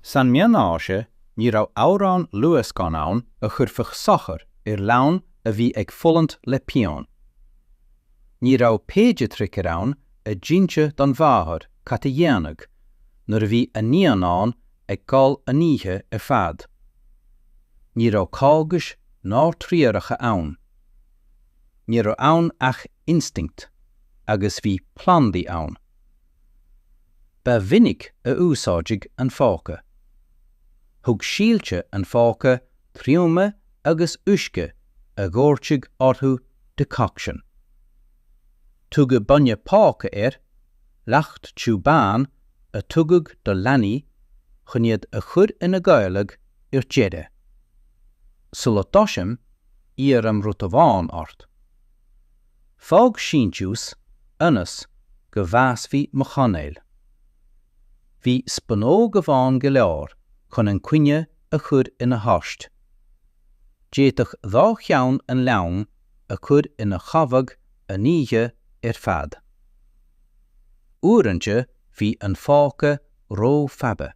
San Meánaoise ní raibh amhrán luascáin ann a chuirfeadh sochar ar leanbh a bhí ag fulaingt le pian. Ní raibh péidiatraicear ann a d'inseadh don mháthair cad a dhéanfadh nuair a bhí a naíonán ag gol an oíche ar fad. Ní raibh cógais ná treoracha ann. Ní raibh ann ach instinct agus bhí plandaí ann. Ba mhinic a úsáideadh an phóca. Thug síolta an phóca thriomaigh agus uisce a dhoirteadh orthu decoction. Tugadh bainne póca air, leacht tiubh bán a tugadh do leanaí chun iad a chur ina gcodladh ar deireadh. Sula dtosaím, iarraim rud amháin ort. Fág síntiús ionas go bhfásfaidh mo chainéal. Bhí spunóg amháin go leor chun an caoineadh a chur ina thost. D'fhéadfadh dhá cheann an leanbh a chur ina chodladh an oíche ar fad. Uaireanta bhí an phóca ró-fhada.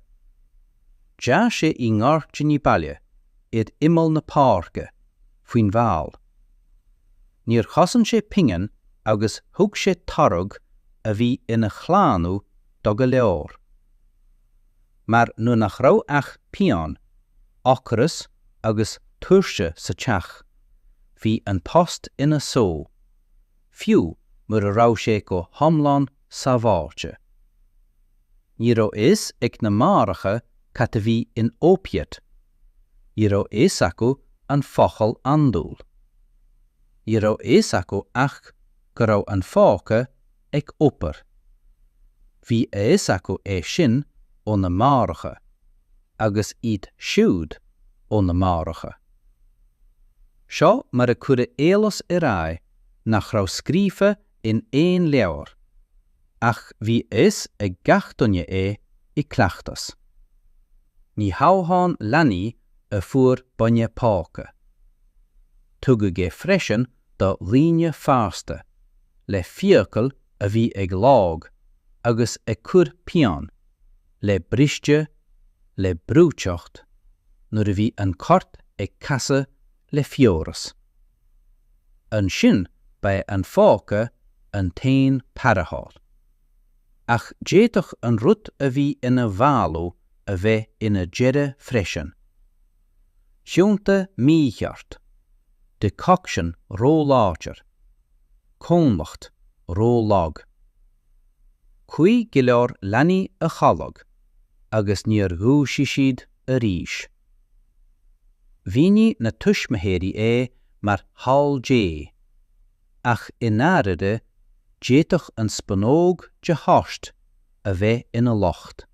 D'fhás sé i ngairdíní baile ar imeall na páirce, faoin bhfál. Níor chosain sé pingin agus thug sé toradh a bhí ina shlánú do go leor. Mar nuair nach raibh ach pian, ocras agus tuirse sa teach, bhí an tost ina shó, fiú mura raibh sé go hiomlán sábháilte. Ní raibh a fhios ag na máithreacha cad a bhí in opiate. Ní raibh a fhios acu an focal andúil. Ní raibh a fhios acu ach go raibh an phóca ag obair. Bhí a fhios acu é sin ó na máithreacha agus iad siúd ó na máithreacha. Seo mar a cuireadh eolas ar aghaidh nach raibh scríofa in aon leabhar, ach bhí a fhios ag gach duine é i gcleachtas. Ní hamháin leanaí a fuair bainne póca. Tugadh é freisin do dhaoine fásta, le fiacail a bhí ag lobhadh agus ag cur pian, le briste, le breoiteacht, nuair a bhí an corp ag casadh le fiabhras. Ansin ba é an phóca an t-aon tarrtháil. Ach d'fhéadfadh an rud a bhí ina mhaolú a bheith ina deireadh freisin. Síolta mícheart. Decoction róláidir. Comhlacht ró-lag. Chuaigh go leor leanaí a chodladh agus níor dhúisigh siad arís. Mhínigh na tuismitheoirí é mar thoil Dé, ach i ndáirire, d'fhéadfadh an spúnóg de thost a bheith ina locht.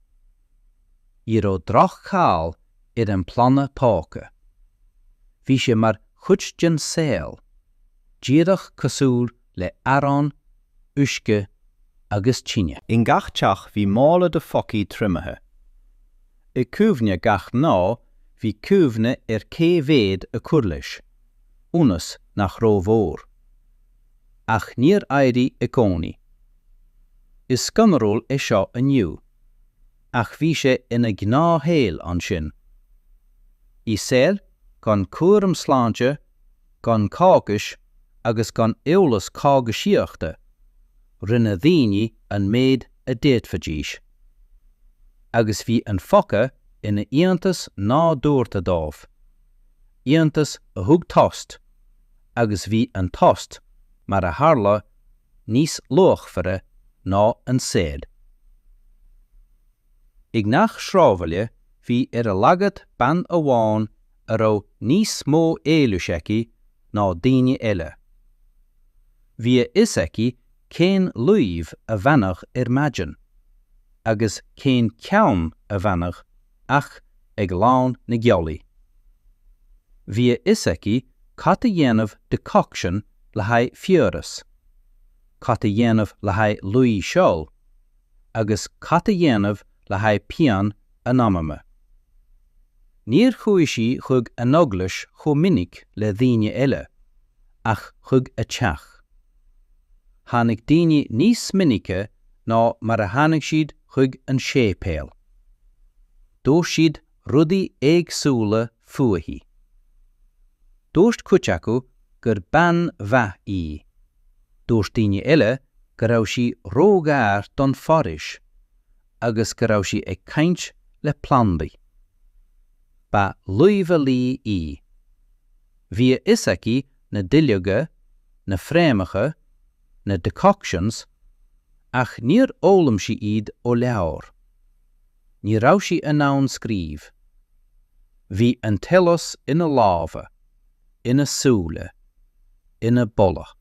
Ní raibh droch-cháil ar an bplanda póca. Bhí sé mar chuid den saol, díreach cosúil le arán, uisce agus tine. I ngach teach bhí mála de phócaí triomaithe. I gcuimhne gach mná bhí cuimhne ar cé mhéad a cur leis, ionas nach rómhór. Ach níor éirigh i gcónaí. Is scanrúil é seo inniu. ach bhí sé ina gnáthshaol ansin. I saol gan cúram sláinte, gan cógais agus gan eolas cógaisíochta, rinne daoine an méid a d'fhéadfaidís. Agus bhí an phóca ina iontas nádúrtha dóibh, iontas a thug tost, agus bhí an tost, mar a tharla níos luachmhaire ná an saol. I ngach sráidbhaile bhí ar a laghad bean amháin a raibh níos mó eolais aici ná daoine eile. Bhí a fhios aici cén luibh a bhaineadh ar maidin agus cén ceann a bhaineadh ach ag lán na gealaí. Bhí a fhios aici cad a dhéanamh decoction le haghaidh fiabhras, cad a dhéanamh le haghaidh luí seoil, agus cad a dhéanamh le haghaidh pian an anama. Níor chuaigh sí chuig an eaglais chomh minic le daoine eile, ach chuig a teach. Tháinig daoine níos minice ná mar a tháinig siad chuig an séipéal. Dúirt siad rudaí éagsúla fúithi. Dúirt cuid acu gur bean mhaith í. Dúirt daoine eile go raibh sí róghar don fhoraois agus go raibh sí ag caint le plandaí. Ba luibheolaí í. Bhí a fhios aici na duilleoga, na fréamacha, na decoctions, ach níor fhoghlaim sí iad ó leabhar. Ní raibh sí in ann scríobh. Bhí an t-eolas ina lámha, ina súile, ina boladh.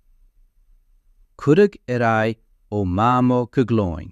Cuireadh ar aghaidh ó Mhamó go glúin.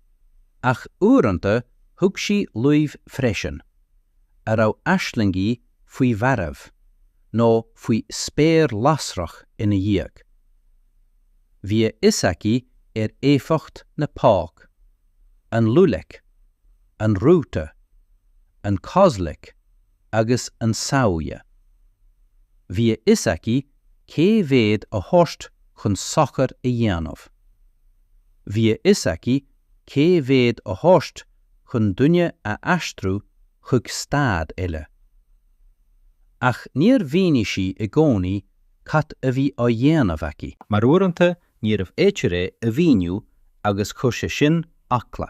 Ach uaireanta thug sí luibh freisin, a raibh aislingí faoi mhairbh, nó faoi spéir lasrach ina dhiaidh. Bhí a fhios aici ar éifeacht na póc, an lulek, an rúta, an kozlek, agus an Samhja. Bhí a fhios aici cé mhéad a thabhairt chun sochair a dhéanamh. Bhí a fhios aici cé mhéad a thabhairt chun duine a aistriú chuig staid eile. Ach níor mhínigh sí i gcónaí cad a bhí á dhéanamh aici. Mar uaireanta Níorbh fhéidir é a mhíniú agus chuir sé sin eagla.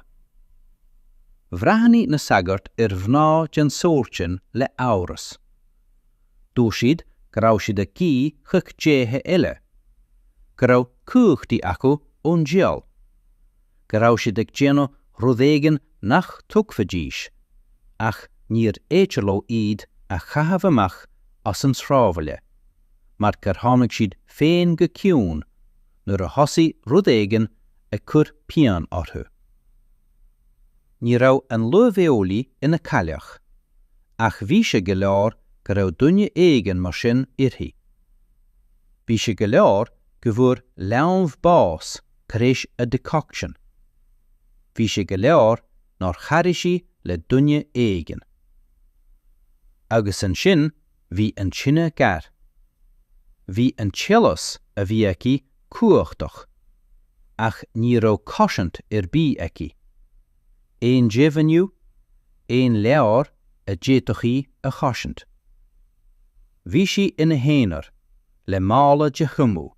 Bhreathnaigh na sagairt ar mhná den sórt sin le amhras. Dúirt siad go raibh siad ag guí chuig déithe eile, go raibh cumhachtaí acu ón diabhal, go raibh siad ag déanamh rud éigin nach dtuigfidís, ach níorbh fhéidir leo iad a chaitheamh amach as an tsráidbhaile. mar gur tháinig siad féin go ciúin nuair a thosaigh rud éigin ag cur pian orthu. Ní raibh an luibheolaí ina cailleach, ach bhí sé go leor go raibh duine éigin mar sin uirthi. Bhí sé go leor go bhfuair leanbh bás tar éis a decoction. Bhí sé go leor nár charaigh sí le duine éigin. Agus ansin Bhí an tine gar. Bhí an t-eolas a bhí aici cumhachtach. Ach ní raibh cosaint ar bith aici. Aon deimhniú, aon leabhar a d'fhéadfadh í a chosaint. Bhí sí ina haonar, le mála de thriomú,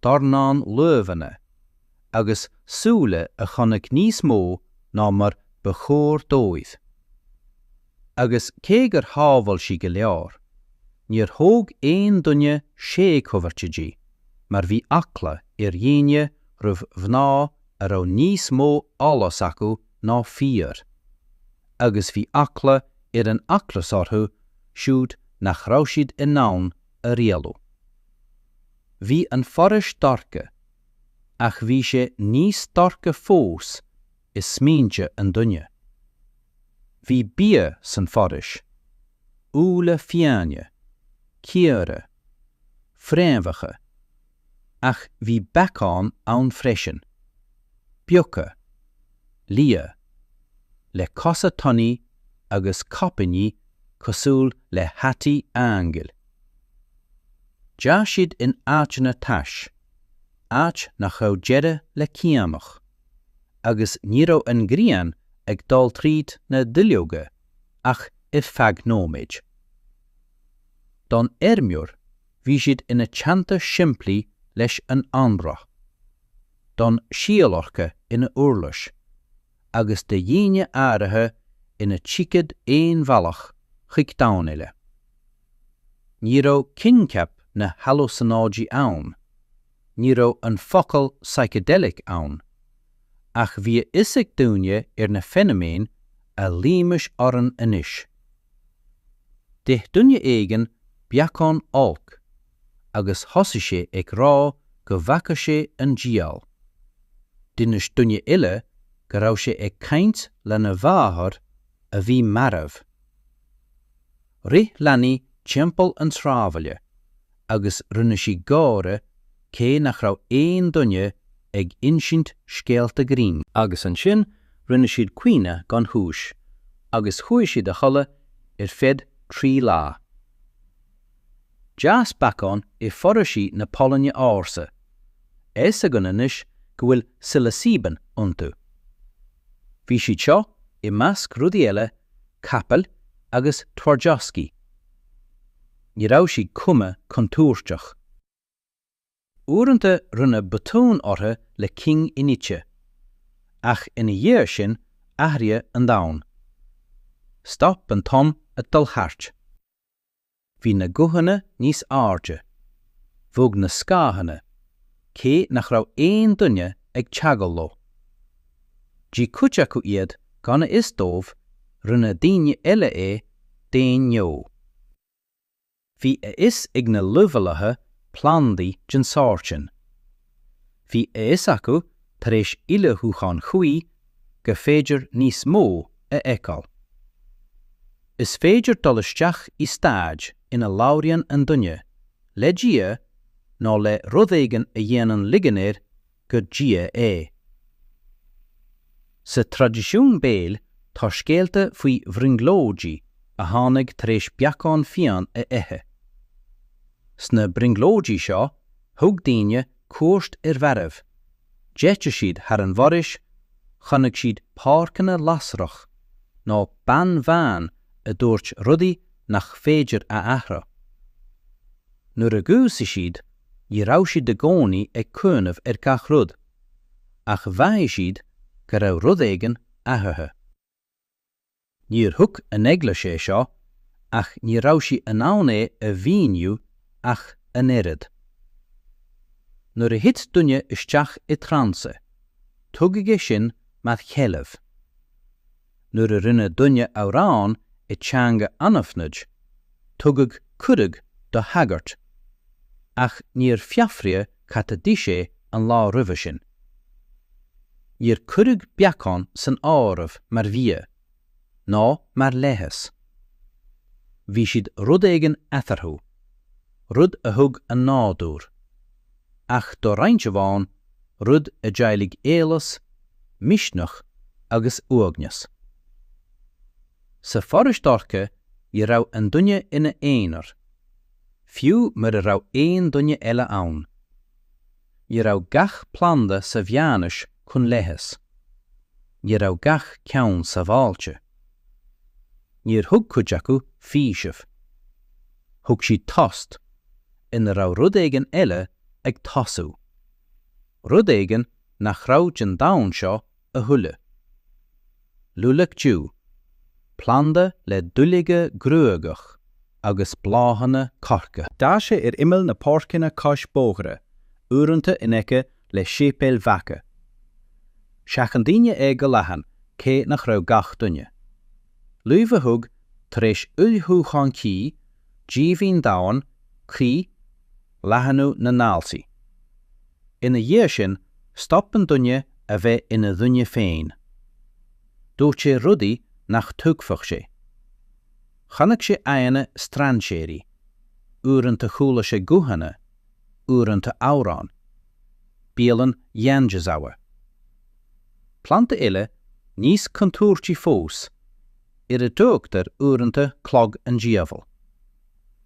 dornán luibheanna, agus súile a chonaic níos mó ná mar ba chóir dóibh. agus cé gur shábháil sí go leor, níor thóg aon duine séadchomhartha di mar bhí eagla ar dhaoine roimh mhná a raibh níos mó eolais acu ná fir, agus bhí eagla ar an eaglais orthu siúd nach raibh siad in ann a rialú. Bhí an foraois dorcha, ach bhí sé níos dorcha fós is smaointe an duine. Bhí bia san foraois, úlla fiáine, caora, fréamhacha, ach bhí beacáin ann freisin, beaga, liatha, le cosa tanaí agus caipíní cosúil le hataí aingil. D'fhás siad in áiteanna tais, áit nach raibh deireadh le caonach. agus ní raibh an ghrian ag dul tríd na duilleoga ach ar feadh nóiméid. Don fheirmeoir, bhí siad ina teannta simplí leis an anraith, don zielarka ina uirlis, agus do dhaoine áirithe ina ticéad aon bhealach chuig domhan eile. Ní raibh coincheap na halúsanáidí ann. ní raibh an focal psychedelic ann, ach bhí a fhios ag daoine ar na feiniméin a luímis orainn anois. D'ith duine éigin beacán olc agus thosaigh sé ag rá go bhfaca sé an diabhal. D'inis duine eile go raibh sé ag caint lena mháthair a bhí marbh. Rith leanaí timpeall an tsráidbhaile agus rinne siad gáire cé nach raibh aon duine ag insint scéalta grinn. Agus ansin rinne siad caoineadh gan chúis agus chuaigh siad a chodladh ar feadh trí lá. D'fhás beacáin i foraoisí na Polainne ársa. Fhios againn anois go bhfuil Psilocybin iontu. Bhí siad seo, i measc rudaí eile, capaill, agus twardzioszki. Ní raibh siad cuma contúirteach. Uaireanta rinneadh botún orthu le cinn inite, ach ina dhiaidh sin athraíodh an domhan. Stop an t-am ag dul thart. Bhí na guthanna níos airde. Bhog na scáthanna, cé nach raibh aon duine ag teagháil leo. D'ith cuid acu iad gan a fhios dóibh, rinne daoine eile é d'aon ghnó. Bhí a fhios ag na luibheolaithe plandaí den sórt sin, Bhí a fhios acu tar éis ullmhúcháin chuí gur féidir níos mó a fheiceáil. Is féidir dul isteach i staid ina labhraíonn an duine le Dia nó le rud éigin a dhéanann ligean air gur Dia é. Sa traidisiún béil tá scéalta faoi bhrionglóidí a tháinig tar éis beacán fiáin a ithe. Sna brionglóidí seo thug daoine cuairt ar Bheireabh, d'eitil siad thar an bhforaois, chonaic siad páirceanna lasrach, nó bean bhán a dúirt rudaí nach féidir a athrá. Nuair a dhúisigh siad, ní raibh siad i gcónaí ag cuimhneamh ar gach rud, ach mhaígh siad go raibh rud éigin athraithe. Níor thuig an Eaglais é seo ach ní raibh sí in ann é a mhíniú ach an oiread. Nuair a thit duine isteach i dtransa, tugadh é sin mar sheilbh. Nuair a rinne duine amhrán i dteanga anaithnid, tugadh cuireadh do shagart, ach níor fiafraíodh cad a d'ith sé an lá roimhe sin. Níor cuireadh beacán san áireamh mar bhia, ná mar leigheas. Bhí siad rud éigin eatarthu, rud a thug an nádúr. Ach do roinnt amháin, rud a d'éiligh eolas, misneach agus uaigneas. Sa fhoraois dhorcha ní raibh an duine ina aonar, fiú mura raibh aon duine eile ann. Ní raibh gach planda sa mheánaois chun leighis. Ní raibh gach ceann sábháilte. Níor thug cuid acu faoiseamh. Thug siad tost, ina raibh rud éigin eile ag tosú. Rud éigin nach raibh den domhan seo a thuilleadh. Lilac Dew, planda le duilleoga gruagach agus bláthanna corcra. Tá sé ar imeall na páirceanna cois bóithre, uaireanta in aice le séipéil bheaga. Sheachain daoine é go leathan, cé nach raibh gach duine. Luibh a thug, tar éis ullmhúchán tae, díomhaoin domhain, croí, leathnú na ndaltaí. Ina dhiaidh sin, stop an duine a bheith ina dhuine féin. Dúirt sé rudaí nach dtuigfeadh sé. Chonaic sé aghaidheanna strainséirí, uaireanta chuala sé guthanna, uaireanta amhráin. Bialann Janjizawa. Planda eile, níos contúirtí fós, ar a dtugtar uaireanta clog an diabhail.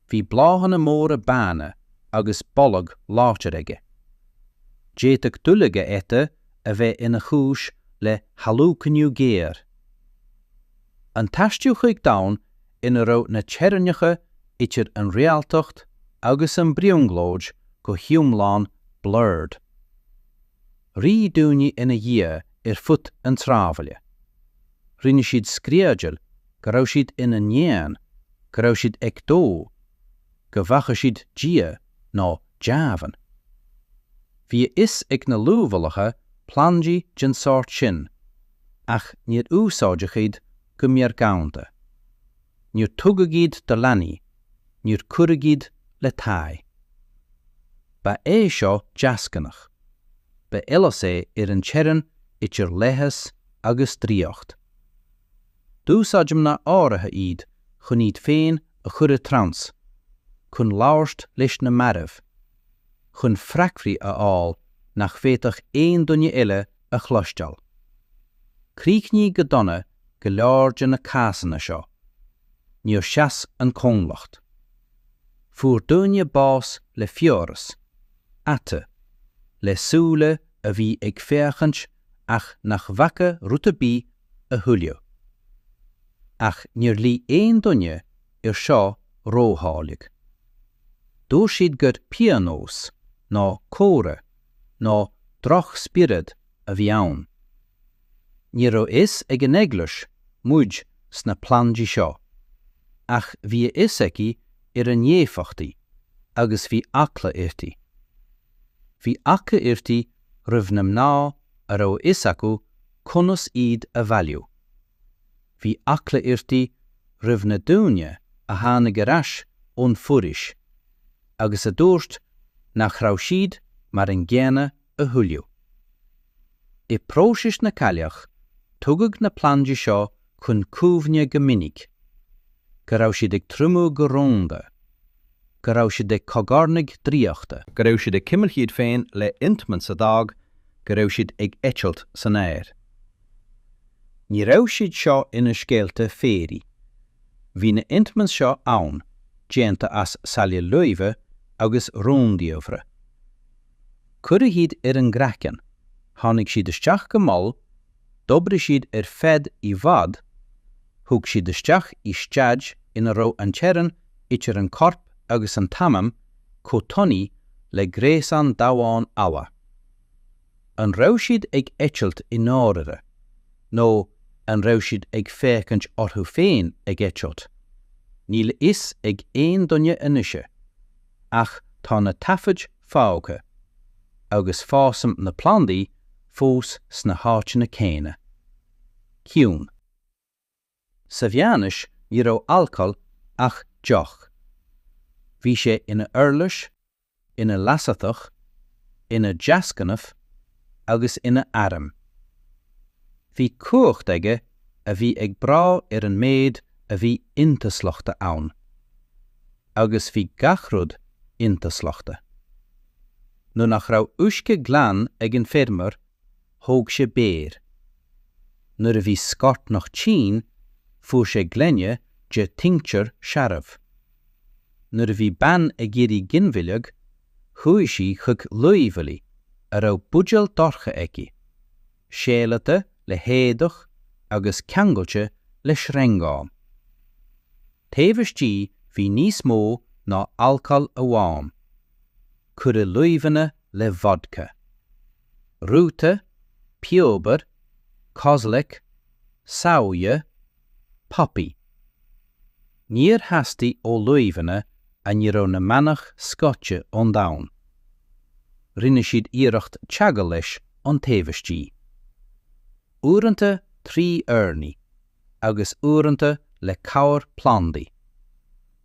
Bhí bláthanna móra bána agus boladh láidir aige. D'fhéadfadh duilleog a ithe a bheith ina chúis le halúcainiú géar. An t-aistriú chuig domhan ina raibh na teorainneacha idir an réaltacht agus an brionglóid go hiomlán blurred. Rith daoine ina dhiaidh ar fud an tsráidbhaile. rinne siad screadaíl go raibh siad ina n-éan, go raibh siad ag dó, go bhfaca siad Dia, nó deamhan. Bhí a fhios ag na luibheolaithe plandaí den sórt sin, ach níor úsáideadh iad go meargánta. Níor tugadh iad do leanaí, níor cuireadh iad le tae. Ba é seo deasghnách. Ba fhollas é ar an teorainn idir leigheas agus draíocht. D'úsáid mná áirithe iad chun iad féin a chur i dtrance, chun labhairt leis na mairbh, chun freagraí a fháil nach bhféadfadh aon duine eile a chloisteáil. Críochnaíodh go dona go leor de na cásanna seo. Níor sheas an comhlacht. Fuair daoine bás le fiabhras, ata, le súile a bhí ag féachaint ach nach bhfaca rud ar bith a thuilleadh. Ach níor ghlaoigh aon duine air seo ródháileog. Dúirt siad gur pionós, nó comhartha, nó drochspiorad a bhí ann. Ní raibh a fhios ag an Eaglais muid sna plandaí seo, ach bhí a fhios aici ar a n-éifeachtaí agus bhí eagla uirthi. Bhí eagla uirthi roimh na mná a raibh a fhios acu conas iad a bhailiú. Bhí eagla uirthi roimh na daoine a tháinig ar ais ón bhforaois agus a dúirt nach raibh siad mar an gcéanna a thuilleadh. I bpróisis na gcailleach, tugadh na plandaí seo chun cuimhne go minic, go raibh siad ag triomú go rúnda, go raibh siad ag cogarnaigh draíochta, go raibh siad ag cimilt iad féin le ointments a d'fhág go raibh siad ag eitilt san aer. Ní raibh siad seo ina scéalta fairy. Bhí na ointments seo ann, déanta as saill, luibheanna agus rúndiamhra. Cuireadh iad ar an gcraiceann, tháinig siad isteach go mall, d'oibrigh siad ar feadh i bhfad, thug siad isteach i staid ina raibh an teorainn idir an corp agus an t-anam chomh tanaí le gréasán damhán alla. An raibh siad ag eitilt i ndáirire? Nó an raibh siad ag féachaint orthu féin ag eitilt? Níl a fhios ag aon duine anois. ach tá na taifid fágtha, agus fásann na plandaí fós sna háiteanna céanna. Ciúin. Sa mheánaois ní raibh alcól ach deoch. Bhí sé ina uirlis, ina leasaitheach, ina dheasghnáth agus ina arm. Bhí cumhacht aige a bhí ag brath ar an méid a bhí intuaslagtha ann. agus bhí gach rud intuaslagtha. Nuair nach raibh uisce glan ag an feirmeoir thóg sé beoir. Nuair a bhí scornach tinn fuair sé gloine de tincture searbh. Nuair a bhí bean ag iarraidh ginmhilleadh chuaigh sí chuig luibheolaí a raibh buidéal dorcha aici, séalata le héadach agus ceangailte le sreangán. Taobh istigh bhí níos mó ná alcól amháin. Cuireadh luibheanna le vodca. Rúta, piobar, kozlek, samhaidhe, poppy. Níor theastaigh ó luibheanna a ní raibh na manaigh scoite ón domhan. Rinne siad iarracht teagmháil leis an taobh istigh. Uaireanta trí urnaí. agus uaireanta le cabhair plandaí,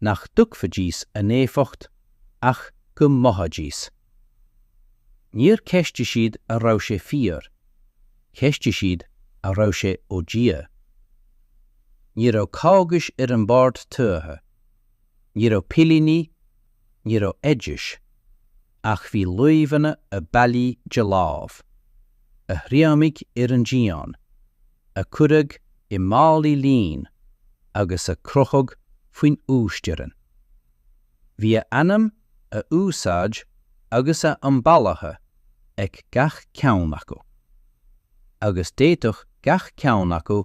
nach dtuigfidís a n-éifeacht ach go mothaídís. Níor cheistigh siad an raibh sé fíor, cheistigh siad an raibh sé ó Dhia. Ní raibh cógais ar an mbord tuaithe, ní raibh pillíní, ní raibh oidis. ach bhí luibheanna a bailíodh de láimh, a thriomaigh ar an díon, a cuireadh i málaí lín agus a crochadh faoin uasteorainn. Bhí a ainm, a úsáid agus a am bailithe ag gach ceann acu, agus d'fhéadfadh gach ceann acu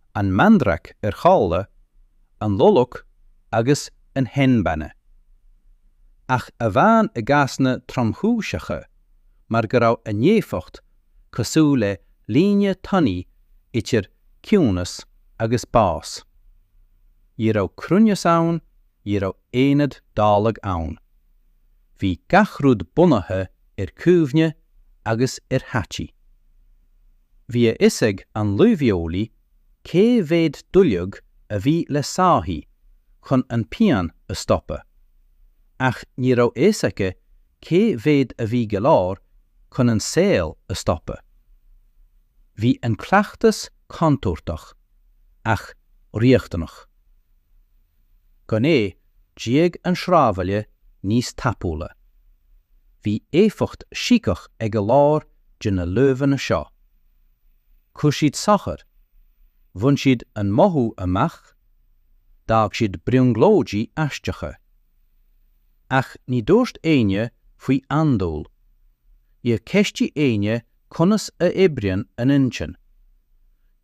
an mandrake ar shála, an lolok agus an henbane. Ach amháin i gcásanna tromchúiseacha mar go raibh a n-éifeacht cosúil le líne thanaí idir ciúnas agus bás. Ní raibh cruinneas ann, ní raibh aonad dáileog ann. Bhí gach rud bunaithe ar chuimhne agus ar thaithí. Bhí a fhios ag an luibheolaí cé mhéad duilleog a bhí le sáithi chun an phian a stopadh, ach ní raibh a fhios aici cé mhéad a bhí go leor chun an saol a stopadh. Bhí an cleachtas contúirteach, ach riachtanach. gan é, d'éag an sráidbhaile níos tapúla. Bhí éifeacht síceach ag a lán de na luibheanna seo. Chuir siad suaimhneas, bhain siad an mothú amach, d'fhág siad brionglóidí aisteacha. Ach ní dúirt éinne faoi andúil. Níor ceistigh éinne conas a oibríonn an intinn.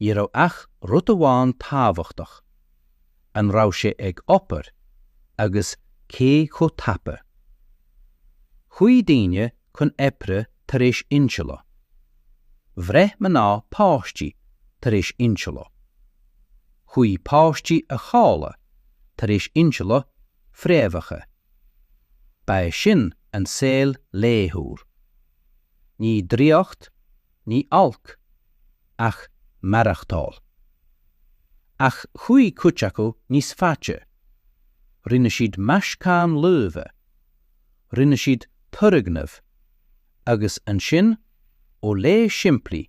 Ní raibh ach rud amháin tábhachtach. an raibh sé ag obair agus cé chomh tapa. Chuaigh daoine chun oibre tar éis insilte. Bhreith mná páistí tar éis insilte. Chuaigh páistí a chodladh tar éis insilte fréamhacha. Ba sin an saol laethúil. Ní draíocht ní olc ach maireachtáil. Ach chuaigh cuid acu níos faide. Rinne siad meascán luibhe. Rinne siad turgnamh. Agus ansin, ó leigheas simplí,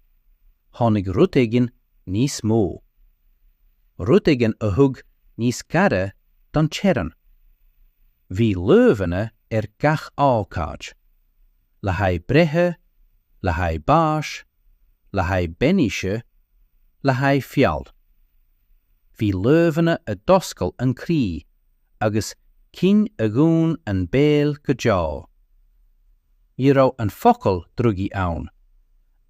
tháinig rud éigin níos mó. Rud éigin a thug níos gaire don teorainn. Bhí luibheanna do gach ócáid. le haghaidh breithe, le haghaidh báis, le haghaidh bainise, le haghaidh feall. Bhí luibheanna a d'oscail an croí agus cinn a dhún an béal go deo. Ní raibh an focal drugaí ann,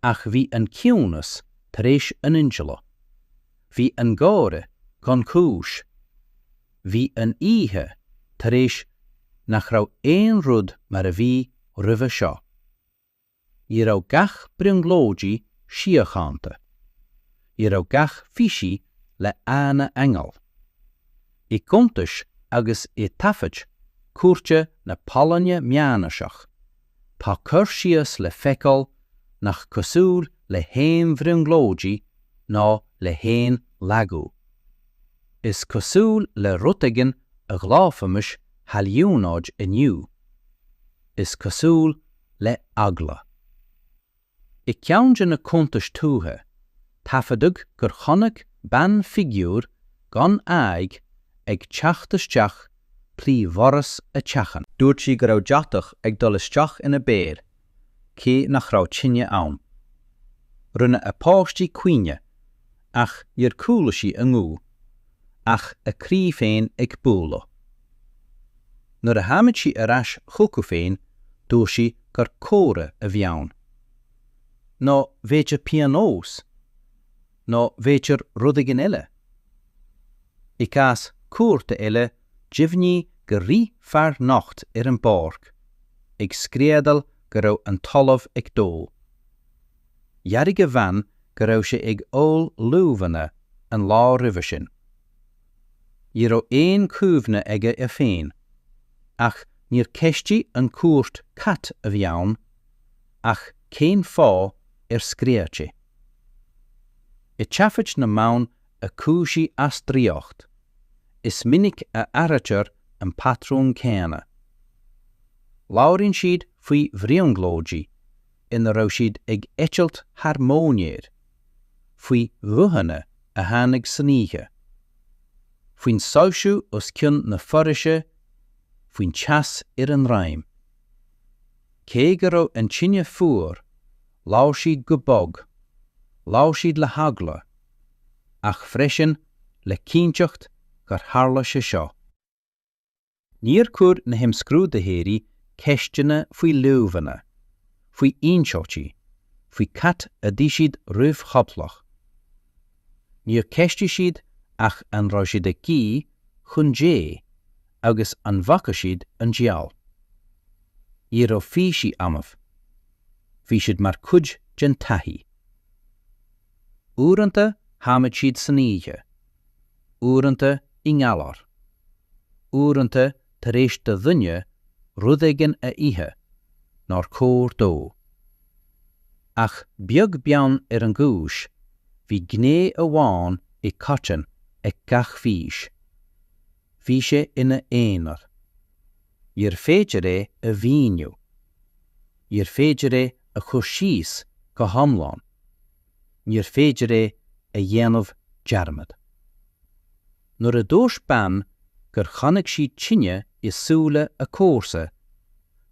ach bhí an ciúnas tar éis an insilte. Bhí an gáire gan chúis. Bhí an oíche tar éis nach raibh aon rud mar a bhí roimhe seo. Ní raibh gach brionglóidí síochánta. Ní raibh gach físí lán aingeal. I gcuntais agus i taifid cúirte na Polainne meánaoiseach, tá cur síos le feiceáil nach cosúil le haon bhrionglóidí ná le haon lagú. Is cosúil le rud éigin a ghlaofaimis hailliúnáid inniu. Is cosúil le eagla. I gceann de na cuntais tuaithe, taifeadadh gur chonaic bean figiúr gan aghaidh ag teacht isteach trí dhoras a teachín. Dúirt sí go raibh deatach ag dul isteach ina béal, cé nach raibh tine ann. Rinne a páistí caoineadh, ach níor chuala sí a nguth, ach a croí féin ag bualadh. Nuair a tháinig sí ar ais chucu féin, dúirt sí gur comhartha a bhí ann. Nó b'fhéidir pionós? Nó b'fhéidir rud éigin eile? I gcás cúirte eile, deimhníodh gur rith fear nocht ar an bpáirc, ag screadaíl go raibh an talamh ag dó. Dhearbhaigh a bhean go raibh sé ag ól luibheanna an lá roimhe sin. Ní raibh aon chuimhne aige air féin, ach níor cheistigh an chúirt cad a bhí ann ach cén fáth ar scread sé. I dtaifid na mban a cúisigh as draíocht, is minic a airítear an patrún céanna. Labhraíonn siad faoi bhrionglóidí, ina raibh siad ag eitilt thar móinéir, faoi ghuthanna a tháinig san oíche, faoin soilsiú os cionn na foraoise, faoin teas ar a ndroim. Cé go raibh an tine fuar, labhair siad go bog, labhair siad le heagla, ach freisin le cinnteacht gur tharla sé seo. Níor chuir na himscrúdaitheoirí ceisteanna faoi luibheanna, faoi insiltí, faoi cad a d'ith siad roimh chodladh. Níor cheistigh siad ach an raibh siad ag guí chun Dé agus an bhfaca siad an diabhal. Ní raibh físí annamh. Bhí siad mar chuid den taithí. Uaireanta tháinig siad san oíche uaireanta i ngalar, uaireanta tar éis do dhuine rud éigin a ithe nár chóir dó. Ach beag beann ar an gcúis, bhí gné amháin i gcoiteann ag gach fís, bhí sé ina aonar. Níorbh féidir é a mhíniú. Níorbh féidir é a chur síos go hiomlán. níor féidir é a dhéanamh dearmad. Nuair a dúirt bean gur chonaic sí tine i súile a comharsa,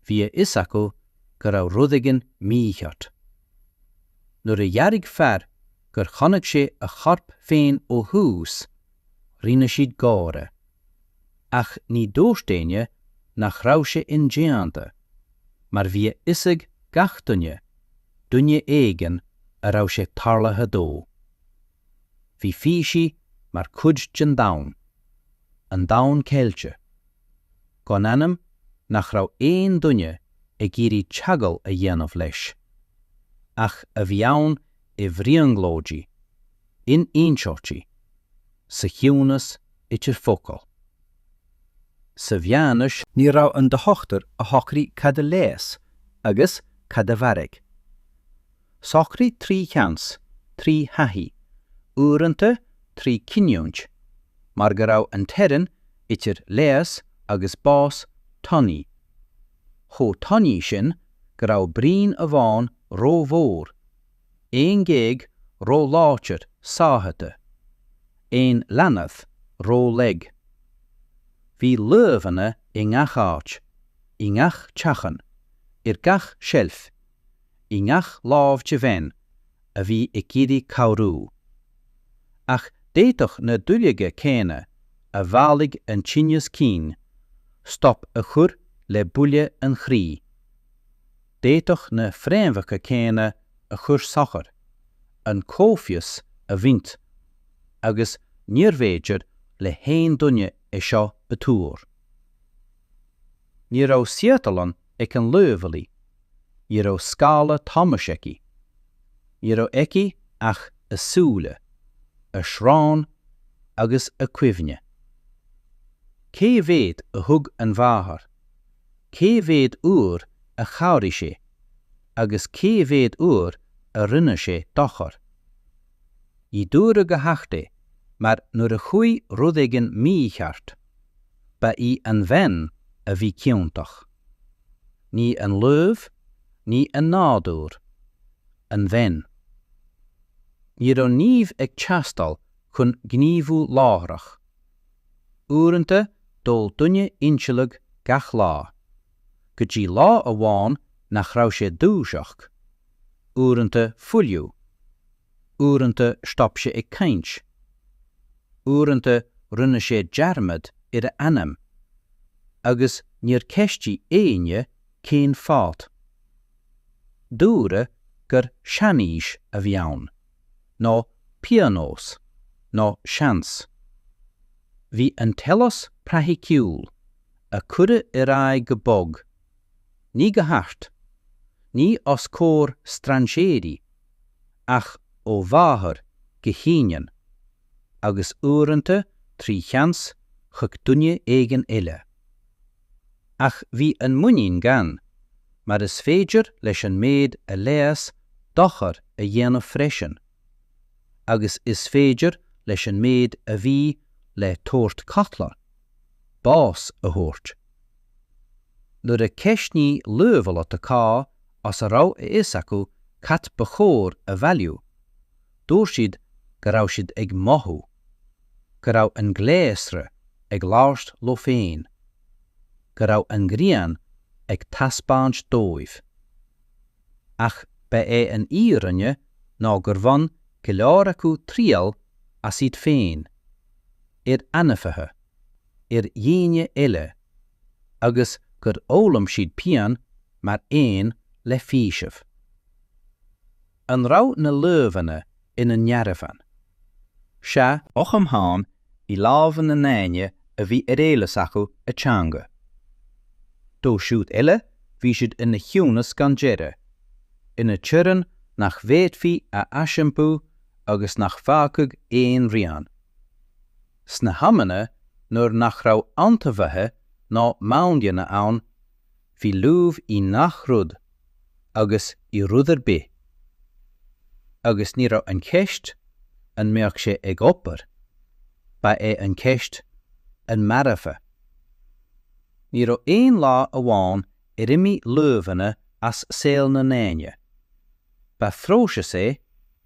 bhí a fhios acu go raibh rud éigin mícheart. Nuair a dhearbhaigh fear gur chonaic sé a chorp féin ó thuas, rinne siad gáire. ach ní dúirt éinne nach raibh sé indéanta, mar bhí a fhios ag gach duine, duine éigin a raibh sé tarlaithe dó. Bhí físí mar chuid den domhan, an domhan ceilte, gan ainm nach raibh aon duine ag iarraidh teagmháil a dhéanamh leis, ach a bhí ann i mbrionglóidí, in inseoidhtí, sa chiúnas, idir focail. Sa Mheánaois. níorbh é an dochtúir a shocraigh cad a leigheas agus cad a mharaigh. Socraíodh trí sheans, trí thaithí, uaireanta trí chinniúint, mar go raibh an teorainn idir leigheas agus bás tanaí, chomh tanaí sin go raibh braon amháin rómhór aon ghéag róláidir sáite, aon leanbh rólag. Bhí luibheanna i ngach áit, i ngach teachín, ar gach seilf, i ngach lámh de bhean a bhí ag iarraidh cabhrú. Ach d'fhéadfadh na duilleoga céanna a mhaolaigh an tinneas cinn stop a chur le buille an chroí. d'fhéadfadh na fréamhacha céanna a chuir suan an chomhfhios a bhaint agus níorbh fhéidir le haon duine é seo a thuar. Ní raibh saotharlann ag an luibheolaí, ní raibh scála tomhais aici, ní raibh aici ach a súile, a srón agus a cuimhne. Cé mhéad a thug an mháthair? cé mhéad uair a chabhraigh sé agus cé mhéad uair a rinne sé dochar. Ní dúradh go hard é mar nuair a chuaigh rud éigin mícheart, ba í an bhean a bhí ciontach. Ní an luibh, ní an nádúr. An bhean. Ní raibh nimh ag teastáil chun gníomhú láithreach. uaireanta d'ól duine insileadh gach lá, go dtí lá amháin nach raibh sé ag dúiseacht, uaireanta fuiliú, uaireanta stop sé ag caint, uaireanta rinne sé dearmad ar a ainm, agus níor cheistigh éinne cén fáth. Dúradh gur seanaois a bhí ann. nó pionós, nó seans. Bhí an t-eolas praiticiúil, a cuireadh ar aghaidh go bog, ní go hard, ní os comhair strainséirí, ach ó mháthair go hínion, agus uaireanta trí sheans chuig duine éigin eile. ach bhí an muinín gann, mar is féidir leis an méid a leigheas dochar a dhéanamh freisin, agus is féidir leis an méid a bhí le tabhairt codlata, bás a thabhairt. Nuair a ceistníodh luibheolaithe cá as a raibh a fhios acu cad ba chóir a bhailiú, Dúirt siad go raibh siad ag mothú go raibh an gléasra ag labhairt leo féin, go raibh an ghrian ag taispeáint dóibh. Ach ba é an fhírinne ná gur bhain go leor acu triail as iad féin, ar ainmhithe, ar dhaoine eile, agus gur fhoghlaim siad pian mar aon le faoiseamh. An raibh na luibheanna ina ndearbhán? Sea, ach amháin i lámha na ndaoine a bhí ar eolas acu a teanga. Dóibh siúd eile bhí siad ina chiúnas gan deireadh, ina teorainn nach bhféadfaí a aisiompú agus nach bhfágfadh aon rian. Sna hamanna nuair nach raibh antaibheathaigh ná maoinleanna ann, Bhí luibh i ngach rud agus i rud ar bith, agus ní raibh an cheist an mbeadh sé ag obair, ba é an cheist an mairfeadh. Ní raibh aon lá amháin ar imigh luibheanna as saol na ndaoine. Ba phróiseas é,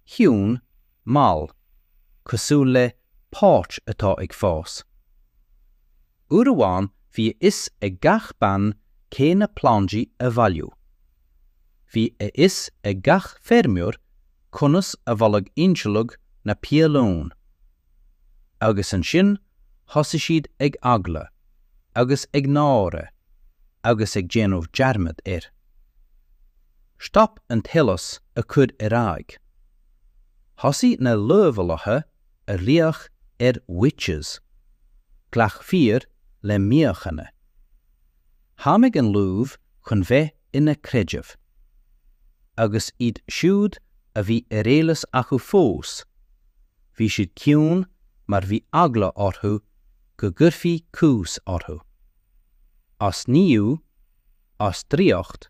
chiúin, mall, cosúil le páirc atá ag fás. Uair amháin bhí a fhios ag gach bean cé na plandaí a bhailiú. Bhí a fhios ag gach feirmeoir conas a bholadh ainsealacht na piolóin. Agus ansin thosaigh siad ag eagla, agus ag náire, agus ag déanamh dearmad air. Stop an t-eolas a chur ar aghaidh. Thosaigh na luibheolaithe ag glaoch ar witches, ghlac fir le míochaine. Tháinig an luibh chun bheith ina creideamh, agus iad siúd a bhí ar eolas acu fós, bhí siad ciúin mar bhí eagla orthu go gcuirfí cúis orthu. As nimhiú, as draíocht,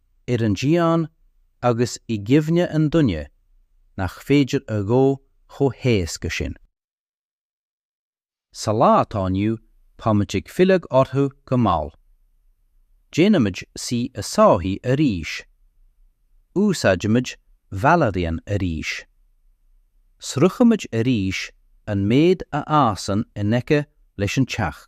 ar an díon agus i gcuimhne an duine nach féidir a dhó chomh héasca sin. Sa lá atá inniu táimid ag filleadh orthu go mall. Déanaimid saoi a sáithiú arís. Úsáidimid valerian arís. Sroichimid arís an méid a fhásann in aice leis an teach.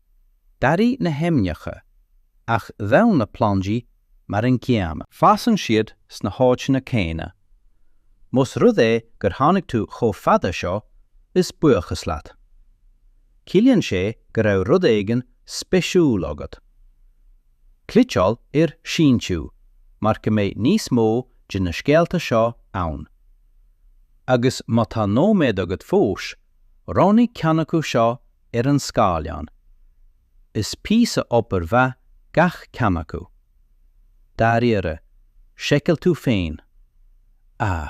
D'athraigh na hainmneacha, ach d'fhan na plandaí mar an gcéanna. Fásann siad sna háiteanna céanna. Más rud é gur tháinig tú chomh fada seo, is buíochas leat. Ciallaíonn sé go raibh rud éigin speisiúil agat. Cliceáil ar 'Síntiú' mar go mbeidh níos mó de na scéalta seo ann. Agus má tá nóiméad agat fós, roghnaigh ceann acu seo ar an scáileán. Is píosa obair mhaith gach ceann acu. Dáiríre, seiceáil tú féin. Ah.